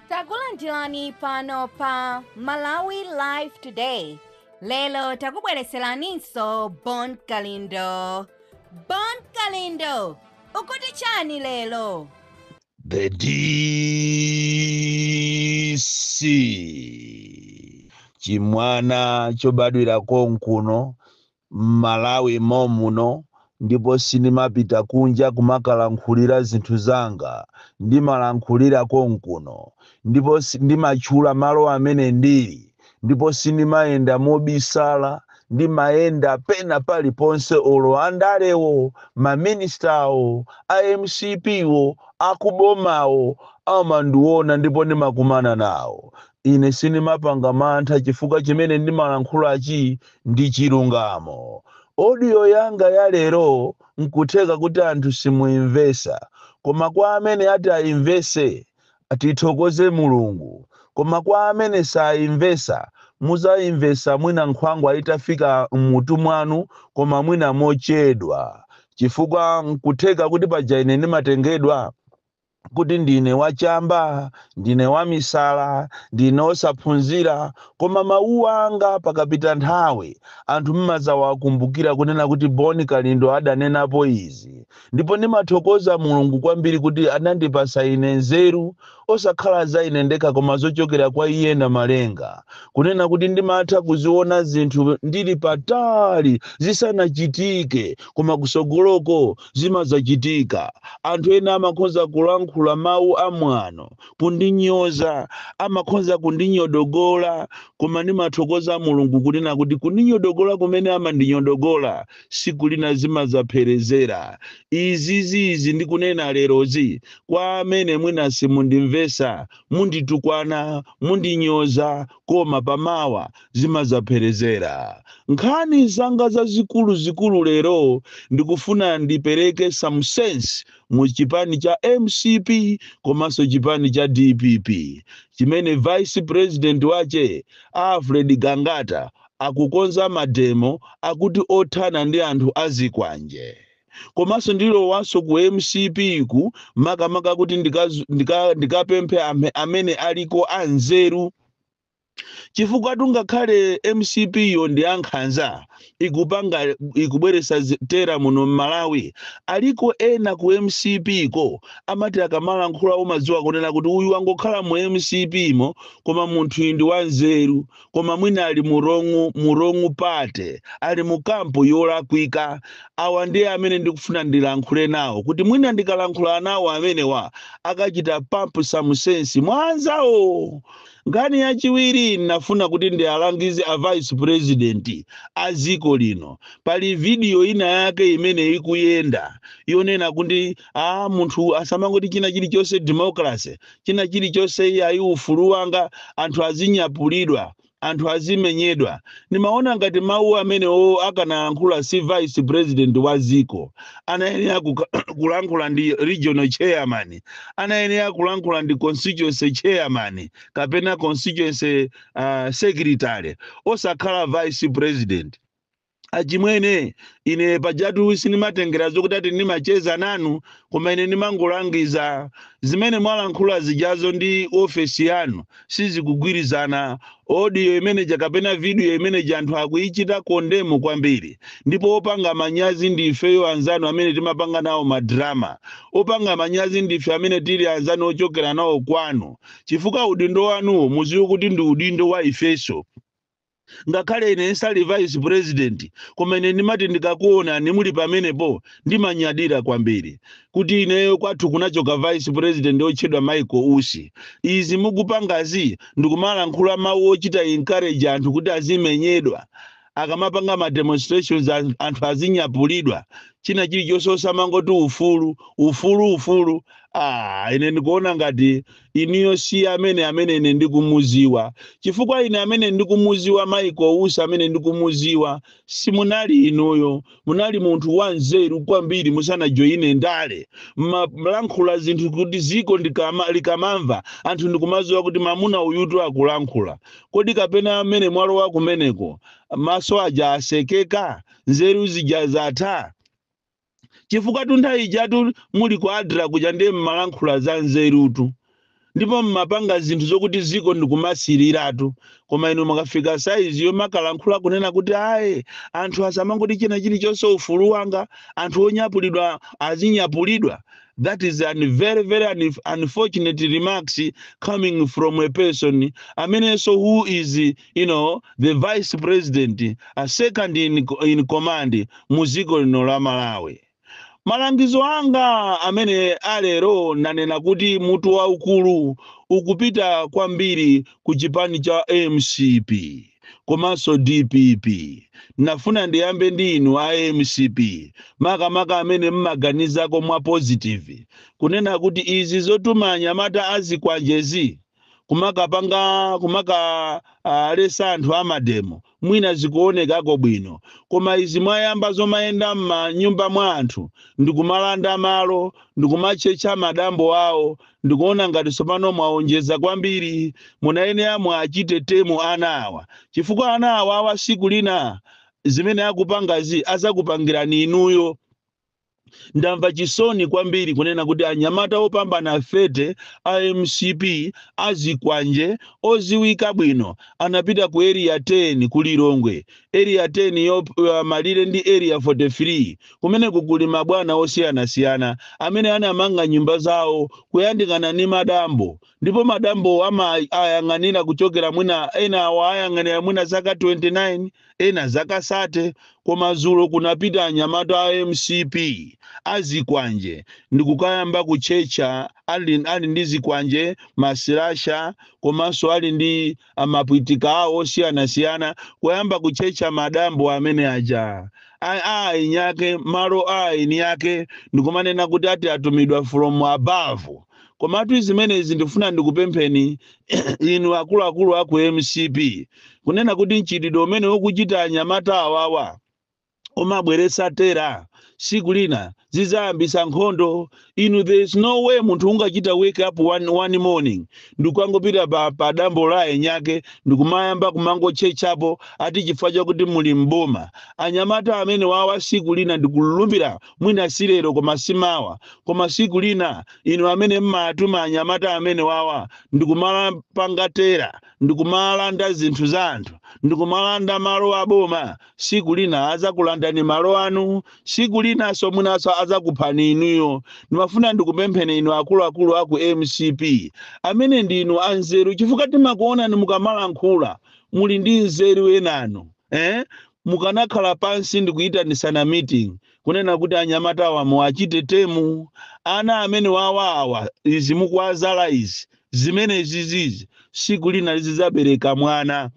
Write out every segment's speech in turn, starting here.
takulandirani pano pa malawi live today lero takubwereseraninso bon kalindo bon kalindo ukuti chani lero The DC. Chimwana chobadwira konkuno m'Malawi mom'muno ndipo sindimapita kunja kumakalankhulira zinthu zanga, ndimalankhulira konkuno ndipo ndimatchula malo amene ndili ndipo sindimayenda mobisala, ndimayenda pena paliponse olo andalewo, ma minister-wo, a mcp-wo, akubomawo amandiona ndipo ndimakumana nawo. Ine sindimapanga mantha chifukwa chimene ndimalankhulachi ndi chilungamo. Audio yanga ya lero nkutheka kuti anthu simuimvesa koma kwa amene ati aimvese tithokoze Mulungu koma kwa amene saimvesa muzaimvesa mwina nkhwangwa itafika mmutu mwanu koma mwina mochedwa chifukwa nkutheka kuti paja ine ndimatengedwa kuti ndine wachamba, ndine wamisala, ndine osaphunzira, koma mawu anga pakapita nthawi anthu mmadzawakumbukira kunena kuti Bon Kalindo adanenapo izi, ndipo ndimathokoza Mulungu kwambiri kuti anandipatsa ine nzeru osakhala za ine ndekha koma zochokera kwa Iye Namalenga, kunena kuti ndimatha kuziona zinthu ndili patali zisanachitike koma kutsogoloko Zimadzachitika. Anthu ena amakhoza kulankhula mawu amwano, kundinyoza, amakhoza kundinyodogola, koma ndimathokoza Mulungu kunena kuti kundinyodogola kumene amandinyodogola siku lina zimadzapherezera. Izizi ndikunena lerozi kwa amene mwina simundimvesa, munditukwana, mundinyoza, koma pamawa zimadzapherezera. Nkhani zanga zazikulu zikulu lero ndikufuna ndipereke some sense mu chipani cha mcp komanso chipani cha dpp chimene vice president wache Alfred Gangata akukonza mademo akuti othana ndi anthu azikwanje. Komanso ndilowanso ku mcp-ku makamaka kuti ndikaz- ndika- ndikapemphe amhe- amene aliko anzeru chifukwa tungakhale mcp yo ndi ankhanza ikupanga ikubweresa zi- terror muno mmalawi aliko ena ku mcp ko amati akamalankhula umadziwa kunena kuti uyu wangokhala mu mcp mo koma munthuyi ndi wanzeru koma mwina ali mu wrong mu wrong party ali mu camp yolakwika awa ndiye amene ndikufuna ndilankhule nawo kuti mwina ndikalankhula nawo amenewa akachite pump some sense mwanzawo Nkhani yachiwiri ndinafuna kuti ndialangize a vice president a dziko lino. Pali video ina yake imene ikuyenda yonena kuti munthu asamangoti china chilichonse democracy, china chilichonse iyayi ufulu wanga, anthu azinyapulidwa, anthu azimenyedwa. Ndimaona ngati mawu amenewo akanalankhula si vice president wa dziko, anayenera kulankhula ndi regional chairman anayenera kulankhula ndi constituency chairman kapena constituency uh, secretary osakhala vice president achimwene ine pajatu sindimatengera zokuti ati ndimacheza nanu koma ine ndimangolangiza zimene mwalankhula zijazo ndi ofesi yanu sizikugwirizana audio imene ja kapena video imene ja anthu akuichita condemn kwambiri ndipo opanga manyazi ndi ifeyo anzanu amene timapanga nawo madrama opanga manyazi ndi ife amene tili anzanu ochokera nawo kwanu chifukwa udindo wanuwo muziwe kuti ndi udindo wa ifeso ngakhale ine sindili vice president koma ine ndimati ndikakuonani muli pamenepo ndimanyadira kwambiri kuti ineyo kwathu kunachoka vice president otchedwa michael usi izi mukupangazi ndikumalankhula mawu ochita encourage anthu kuti azimenyedwa akamapanga ma demonstrations anthu azinyapulidwa china chilichonse osamangoti ufulu ufulu ufulu ah ine ndikuona ngati inuyo si amene amene ine ndikumuziwa chifukwa ine amene ndikumuziwa Michael Usi amene ndikumuziwa simunali inuyo munali munthu wanzeru kwambiri musanajoyine ndale mmalankhula zinthu kuti ziko likamamva anthu ndikumaziwa kuti mamuna uyutu akulankhula kodi kapena amene mwalowa kumeneko maso aja asekeka nzeru zija zatha chifukwatu nthawi ijatu muli ku adra kuja ndiye mmalankhula za nzerutu ndipo mmapanga zinthu zokuti ziko ndikumasiliratu koma inu mwakafika size yomakalankhula kunena kuti ayi anthu asamangoti china chilichonse ufulu wanga anthu onyapulidwa azinyapulidwa that is an very very unfortunate remarks coming from a person I mean so who is you know the vice president a second in command mu dziko lino la malawi malangizo anga amene alero nanena kuti mutu waukulu ukupita kwambiri ku chipani cha mcp komanso dpp nafuna ndiyambe ndi inu a mcp makamaka amene mmaganizako mwa positive kunena kuti izi zotuma anyamata azikwanjezi kumakapanga kumakalesa anthu amademo mwina zikuonekako bwino koma izi mwayamba zomayenda m'manyumba mwa anthu ndikumalanda malo ndikumatchetcha madambo awo ndikuona ngati tsopano mwaonjeza kwambiri munayenera muwachite tame ana awa chifukwa ana awa awa siku lina zimene akupangazi azakupangirani inuyo ndamva chisoni kwambiri kunena kuti anyamata opambana 30 a mcp azikwanje oziwika bwino anapita ku area 10 ku lilongwe area 10 yo uh, malire ndi area 43 kumeneko kuli mabwana osiyanasiyana amene anamanga nyumba zawo kuyandikana ndi madambo Ndipo madambowo amawayang'anira kuchokera mwina ena awayang'anira mwina zaka 29, ena zaka 30, koma dzulo kunapita anyamata a mcp, a zikwanje, ndi kukayamba kutchetcha ali ali ndi zikwanje, masilasha, komanso ali ndi. mapwitika awo osiyanasiyana kuyamba kutchetcha madambo amene aja a a eni ake malo a eni ake ndikumanena kuti ati atumidwa from above komatu zimenezi ndifuna ndikupempheni inu akuluakulu a ku mcp kunena kuti mchitidwe umene ukuchita anyamata awawa omabweretsa terror siku lina zizayambisa nkhondo inu there is no way munthu ungachita wake up one, one morning ndikukangopita pa, pa dambo la eni ake ndikumayamba kumangotchetchapo ati chifukwa chakuti muli mboma anyamata amene wawa siku lina ndikulumbira mwina si lero koma simawa koma siku lina inu amene mmatuma anyamata amene wawa ndikumakapanga terror ndikumalanda zinthu za anthu ndikumalanda malo aboma siku lina azakulandani malo anu siku linaso mwinaso azakuphani inuyo ndimafuna ndikupempheni inu akuluakulu aku mcp amene ndinu anzeru chifukwa timakuonani mukamalankhula muli ndi nzeru enanu eh? mukanakhala pansi ndikuyitanitsana meeting kunena kuti anyamata awa muwachite tame ana amene wawawa izi mukuwazala izi zimene zizizi siku lina zizabereka mwana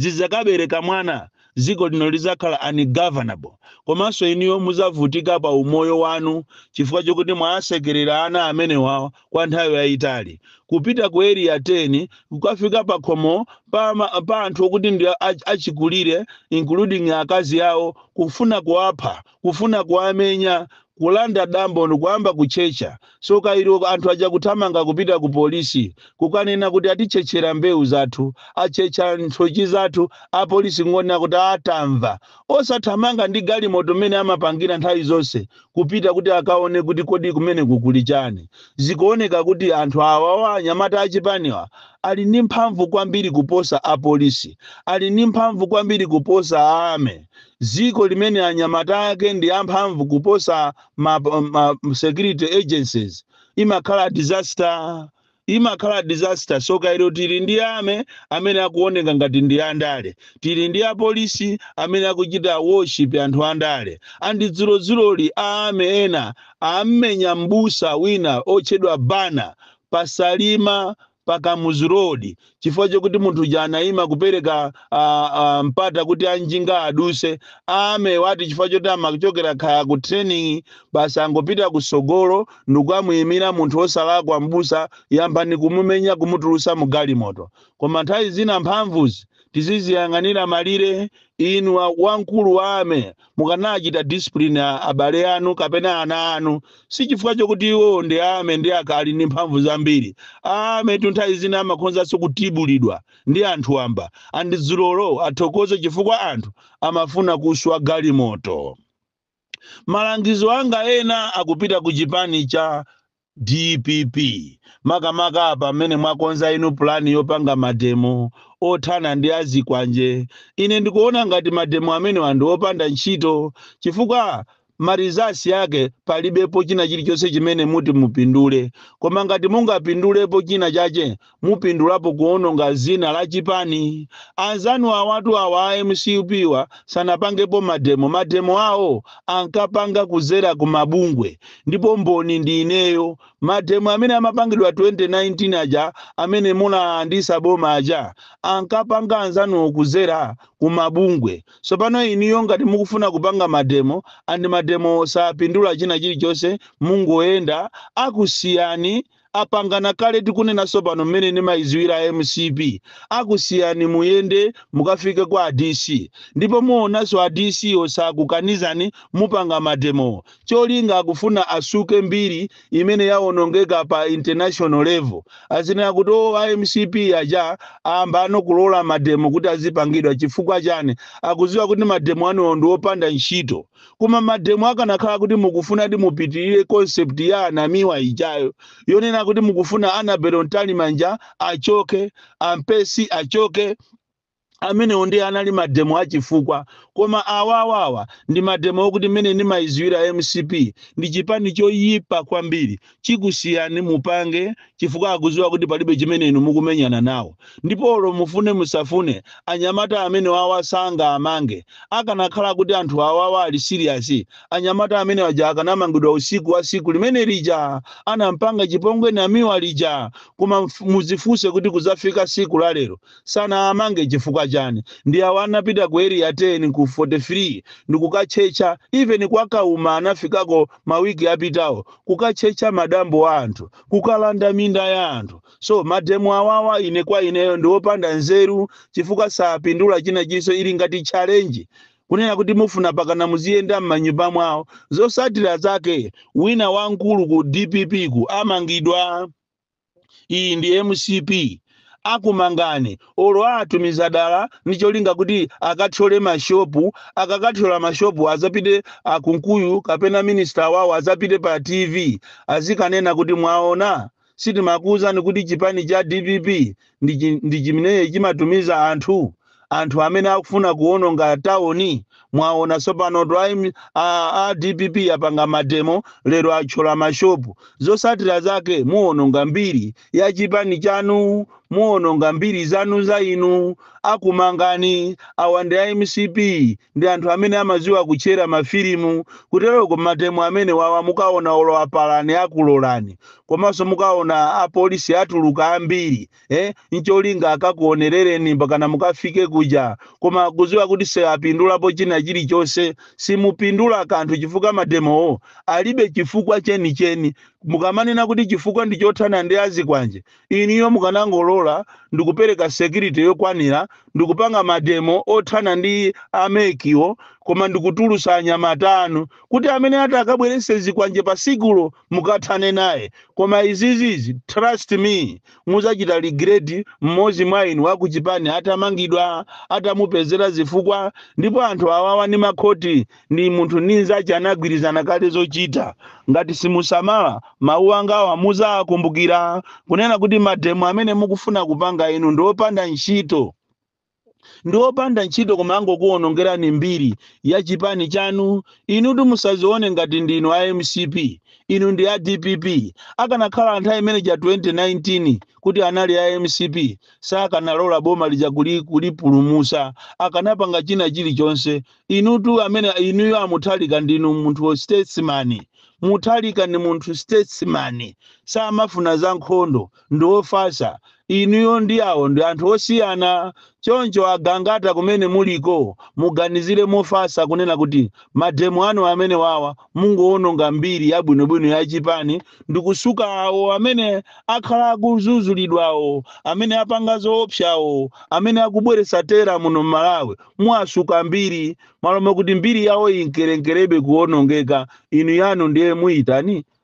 zidzakabereka mwana dziko lino lidzakhala ungovernable komanso inuyo mudzavutika pa umoyo wanu chifukwa chokuti mwawasekerera ana amene wawa kwa nthawi yayitali. Kupita ku Area 10 kukafika pakhomo pa, pa anthu okuti ndi achikulire including akazi awo kufuna kuwapha kufuna kuwamenya, kulanda dambo ndikuyamba kutchetcha, tsoka ilo anthu aja kuthamanga kupita ku polisi kukanena kuti atitchetchera mbewu zathu, atchetcha nthochi zathu, apolisi kungonena kuti aah tamva. Osathamanga ndi galimoto mmene amapangira nthawi zonse kupita kuti akaone kuti kodi kumeneku kuli chani. Zikuoneka kuti anthu awawa anyamata achipaniwa ali ndi mphamvu kwambiri kuposa apolisi, ali ndi mphamvu kwambiri kuposa Army. dziko limene anyamata ake ndi amphamvu kuposa ma, ma security agencies imakhala disaster imakhala disaster tsoka ilo tili ndi army amene akuoneka ngati ndi andale tili ndi apolisi amene akuchita worship anthu andale and dzulodzuloli a army ena ammenya mbusa wina otchedwa Banda pa Salima pa Kamuzu Road chifukwa chokuti munthu uja anaima kupereka ah, ah, mpata kuti anjinga aduse a army wa ati chifukwa choti amachokera kaya ku training basi angopita kusogolo ndikukamuyimira munthu wosalakwa mbusa yambani kumumenya kumutulusa mu galimoto koma nthawi zina mphamvuzi tiziziyang'anira malire inu wa- wamkulu wa army mukanachita discipline a- abale anu kapena ana anu si chifukwa chokuti iwowo ndi a army ndi akhali ndi mphamvu zambiri a army tu nthawi zina amakhozanso kutibulidwa ndi anthu wamba and dzulolo athokoze chifukwa anthu amafuna kuswa galimoto malangizo anga ena akupita ku chipani cha DPP makamaka apa mmene mwakonza inu plan yopanga mademo othana ndi azikwanje ine ndikuona ngati mademo amenewa ndi opanda ntchito chifukwa ma results ake palibepo china chilichonse chimene muti mupindule koma ngati mungapindulepo china chache mupindulapo kuononga zina la chipani anzanu awatu awa a MCP wa sanapangepo mademo mademo awo ankapanga kuzera ku mabungwe ndipo mboni ndi ineyo mademo amene amapangidwa 2019 aja amene munalandisa boma aja ankapanga anzanuwo kuzera ku mabungwe sopano inuyo ngati mukufuna kupanga mademo and mademo sapindula china chilichonse mungoyenda akusiyani apangana kale tikunenanso pano mmene nimaiziwira MCP akusiyani muyende mukafike kwa a DC ndipo muonanso a DC wo sakukanizani mupanga mademowo cholinga akufuna asuke mbiri imene yaonongeka pa international level azinena kuti o a MCP aja ayambano kulola mademo kuti azipangidwa chifukwa chani akuziwa kuti mademo anuwo ndi opanda ntchito koma mademo akanakhala kuti mukufunadi mupitirire concept ya anamiwa ijayo yonena kuti mukufuna Annabel Mtalimanja achoke a Mpesi achoke amenewo ndiye anali mademo achifukwa koma awawawa ndi mademo okuti mmene ndimayiziwira mcp ndi chipani choyipa kwambiri chikusiyani mupange chifukwa akuziwa kuti palibe chimene inu mukumenyana nawo ndipo olo mufune musafune anyamata amenewawa sangaamange akanakhala kuti anthu awawa ali serious anyamata amene aja akanamangidwa usiku wa siku limene lija anam'panga chipongwe Namiwa lija koma mf- muzifuse kuti kuzafika siku la lero sanaamange chifukwa chani ndi awa anapita ku area 10 ku 43 ndikukatchetcha even kwa kauma anafikako mawiki apitawo kukatchetcha madambo a anthu kukalanda minda ya anthu so mademo awawa ine kwa ineyo ndi opanda nzeru chifukwa sapindula china chinso ili ngati challenge kunena kuti mufuna pakana muziyenda m'manyumba mwawo zosatira zake wina wamkulu ku dppku amangidwa iyi ndi mcp akumangani olo atumiza dala ndi cholinga kuti akathyole mashopu akakathyola mashopu azapite akunkuyu kapena minista wawo azapite pa tv azikanena kuti mwaona sitimakuuzani kuti chipani cha dpp ndi chi- ndi chimene chimatumiza anthu anthu amene akufuna kuononga tauni mwaona tsopano to aim- a, a dpp apanga mademo lero atchola mashopu zosatira zake muononga mbiri ya chipani chanu muononga mbiri zanu za inu akumangani awa ndi a mcp ndi anthu amene amadziwa kutchera mafilimu kuteroko mademo amenewawa mukaona olo apalani akulolani komanso mukaona apolisi atuluka ambiri eh, ncholinga akakuonerereni mpakana mukafike kuja koma kuziwa kuti siapindulapo china chilichonse simupindula kanthu chifukwa mademowo alibe chifukwa chenicheni mukamanena kuti chifukwa ndi chothana ndi azikwanje inuyo mukanangolola ndikupereka security yokwanira ndikupanga mademo othana ndi a mec-wo koma ndikutulusa anyamata anu kuti amene atakabwerese zikwanje pa sikulo mukathane naye koma izizizi trust me muzachita regret mmozi mwa inu wakuchipani atamangidwa atamupezera zifukwa ndipo anthu awawa ni makhoti ni munthu ni nzache anagwirizana kale zochita ngati simusamala mawu angawa muzakumbukira kunena kuti mademo amene mukufuna kupanga inu ndiopanda ntchito ndi opanda ntchito koma angokuwonongerani mbiri ya chipani chanu inutu musazione ngati ndinu a mcp inu ndi a dpp akanakhala anthu imene ija 2019 kuti anali a mcp sakanalola boma lija kuli- kulipulumusa akanapanga china chilichonse inutu amene inuyo a Mutharika ndinu munthu statesman Mutharika ndi munthu statesman samafuna za nkhondo ndi ofatsa. Inuyo ndi awo ndi anthu osiyana. Choncho a Gangata kumene muliko muganizire mofatsa kunena kuti mademo anu amenewawa mungowononga mbiri yabwinobwino ya chipani ndikusuka awo amene akhala akuzuzulidwawo, amene apanga zoopsawo, amene akubweretsa terror muno m'Malawi muwasuka mbiri. Malo mokuti mbiri yawo inkerenkerebe kuwonongeka inu yanu ndiye muyitani?